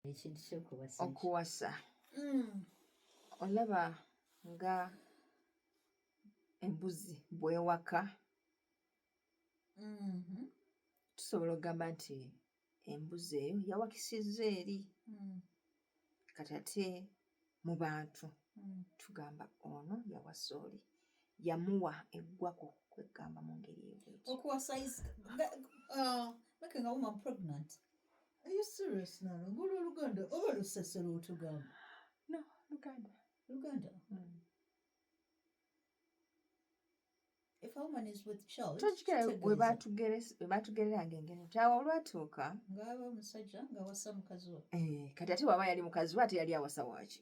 ekintu kyokuwasa okuwasa mm. olaba nga embuzi bwewaka mm-hmm. tusobola okugamba nti embuzi eyo yawakisiza eri mm. kati ate mu bantu mm. tugamba ono yawasa oli yamuwa eggwako kwegamba mu ngeri eyokuwasaoluganda uh, oba lusesero otugamba no luganda luganda mm. tokikira bwe batugereranga engeri nti awo olwatuuka eh, kati ate bwaba yali mukazi we ate yali awasa waaki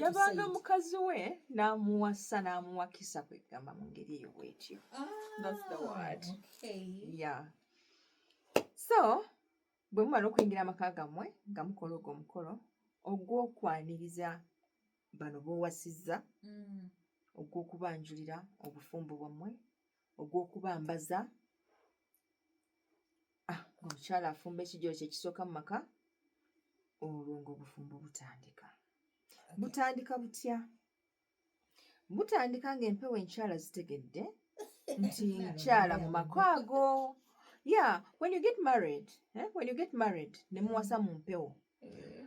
yabanga mukazi we n'amuwasa n'amuwakisa kwegamba mu ngeri eyo bwetyo ah, so Bwe mumala okuyingira amaka gammwe nga mukola ogwo omukolo ogw'okwaniriza bano b'owasizza mm. ogw'okubanjulira obufumbo bwammwe ogw'okubambaza ah, omukyala afumba ekijolo kye kisooka mu maka olwo ng'obufumbo butandika butandika butya mutandika ng'empewo enkyala zitegedde nti nkyala mu maka ago ya when you get married eh? when you get married ne muwasa mu mpewo eh.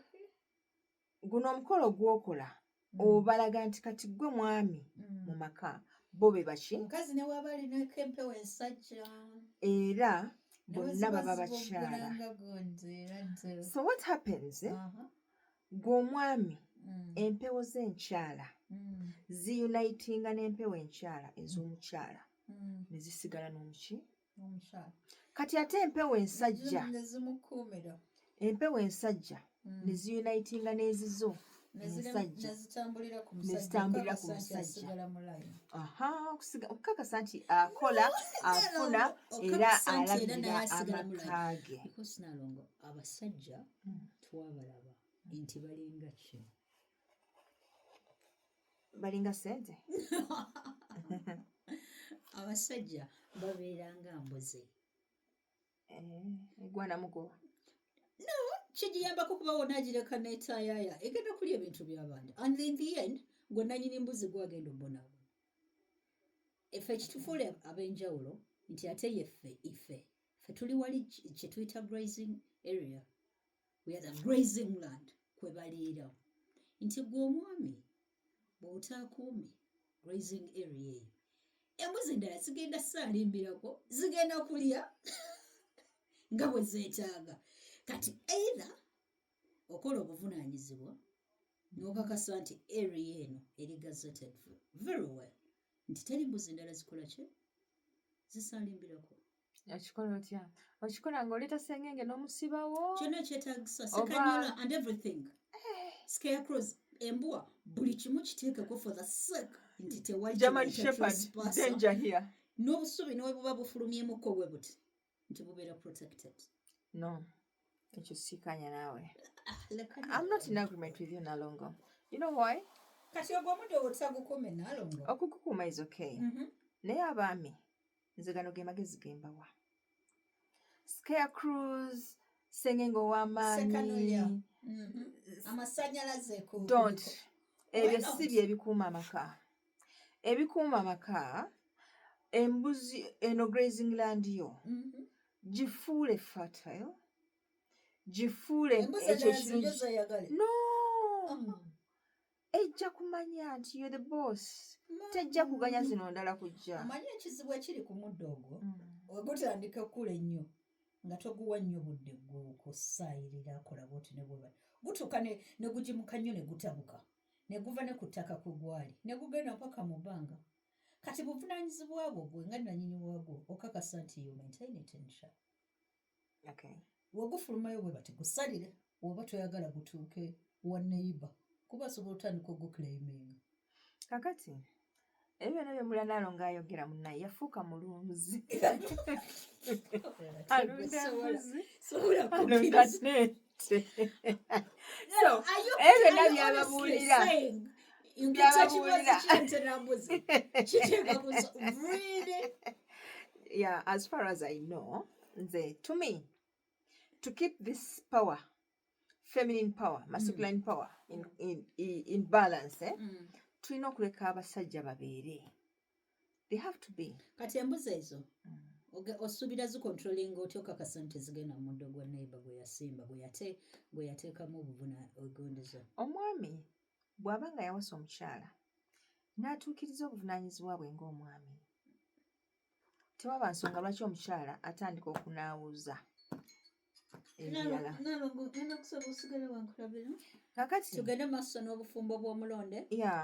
guno omukolo gwokola mm. obalaga nti kati gwe mwami mm. mu maka bo be baki mukazi ne waba alinako empewo ensajja era bonna baba bakyala so what happens eh? uh -huh. gwe omwami mm. empewo z'enkyala mm. ziyunitinga n'empewo enkyala ez'omukyala mm. ne zisigala n'omuki kati ate empewo ensajja empewo ensajja ne ziyunitinga n'ezizo nezitambulira ku musajja okukakasa nti akola afuna era alabirira amaka ge abasajja Hmm, twabalaba nti balinga ki balinga sente abasajja babeera nga mbuzi eh, egwanamuko no kigiyambako kuba wona agireka netayaya egenda kulya ebintu byabandi and in the end gwe nanyini mbuzi gwagenda obonabo efe ekitufuule abenjawulo nti ate yeffe ife ffe tuli wali kyetuyita grazing area we are the grazing land kwe baliira nti gwe omwami bw'otaakuumi grazing area eyo embuzi endala zigenda saalimbirako zigenda kulya nga bwe zeetaaga kati either okola obuvunaanyizibwa n'okakasa nti area eno eri gazetted very well nti teri mbuzi ndala zikola ki zisaalimbirako okikola otya okikola ngaoleeta sengenge n'omusibawo kyona ekyetagisa sekanyola and everything eh. scarecrows embwa buli kimu kiteekeko for the sake nti tewaligerman shepherd danger here n'obusubi newebuba bufulumyemuko bwe buti nti bubeera protected no ekyo sikanya naawe ah, am not in agreement with you nalongo you know why kati ogwo omuntu owotagukuume nalongo okugukuuma is okay mm -hmm. naye abaami nze gano ge magezi gembawa scare cruise sengenge ow'amaanyi mm-hmm. amasanyalaze don't ebyo si bye bikuuma amaka ebikuuma amaka embuzi eno grazing land yo mhm. gifuule fertile gifuule no oh. ejja kumanya nti yo the boss tejja kuganya zino ndala kujja amanyi ekizibu ekiri ku muddo ogwo mm. ogutandika okukula ennyo nga toguwa nnyo budde gwokusaayirira akola bwoti ne bweba gutuuka ne gugimuka nnyo ne gutabuka ne guva ne ku ttaka kwe gwali ne gugenda mpaka mu bbanga kati buvunaanyizibwa bwo gwe nga nanyini waagwo okakasa nti you maintain it in sha okay. wegufulumayo bwe bati gusalire oba toyagala gutuuke wa neyiba kuba asobola otandika ogukulayiminga kakati ebyo byona byemulanalo ngaayogera munaye yafuuka mulunzi alunda mbuzi alunda nente ebyo byona byababuulira yeah as far as i know nze to me to keep this power feminine power masculine mm. power in, in, in, in balance eh? mm. tulina okuleka abasajja babeere they have to be kati embuzi ezo mm. osuubira zikontrolinga otya okakasa nti zigenda mu muddo gwa naiba gwe yasimba gwe yateekamu obuvuna ogondezo omwami bw'aba nga yawasa omukyala n'atuukiriza obuvunaanyizibwa bwe ng'omwami tewaba nsonga lwaki omukyala atandika okunaawuza kakati tugende maaso n'obufumbo bw'omulonde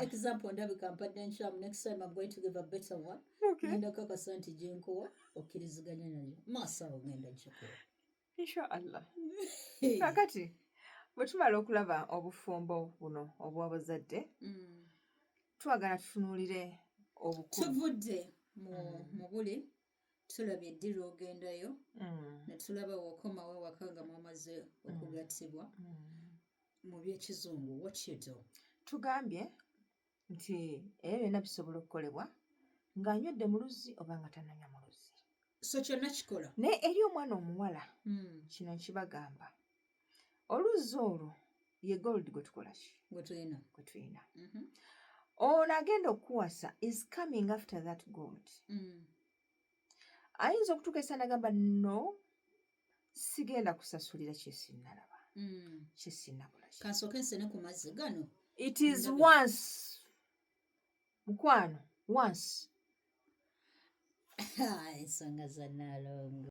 example ndabika mpadde nkyamu next time am going to give a better one ngenda kakasa nti gyenkowa okkiriziganya nayo maaso awo ngenda nkikola inshallah kakati bwe tumala okulaba obufumbo buno obw'abazadde mm. twagala tutunuulire obukulu tuvudde mu mm. buli tulabye eddira ogendayo mm. ne tulaba wokomawo ewaka nga mwamaze okugattibwa mu by'ekizungu what you do tugambye nti ebyo byonna bisobola okukolebwa ng'anywedde mu luzzi oba nga tananya mu luzzi so kyonna kikola naye eri omwana omuwala hmm. kino nkibagamba oluzzi olwo ye gold gwe tukola ki gwe tulina mhm. ono agenda okukuwasa is coming after that gold hmm. ayinza okutuuka esanagamba no sigenda kusasulira kyesinalaba mm. kyesinakola kansoke nsene ku mazzi gano it is once mukwano once ensonga za nalongo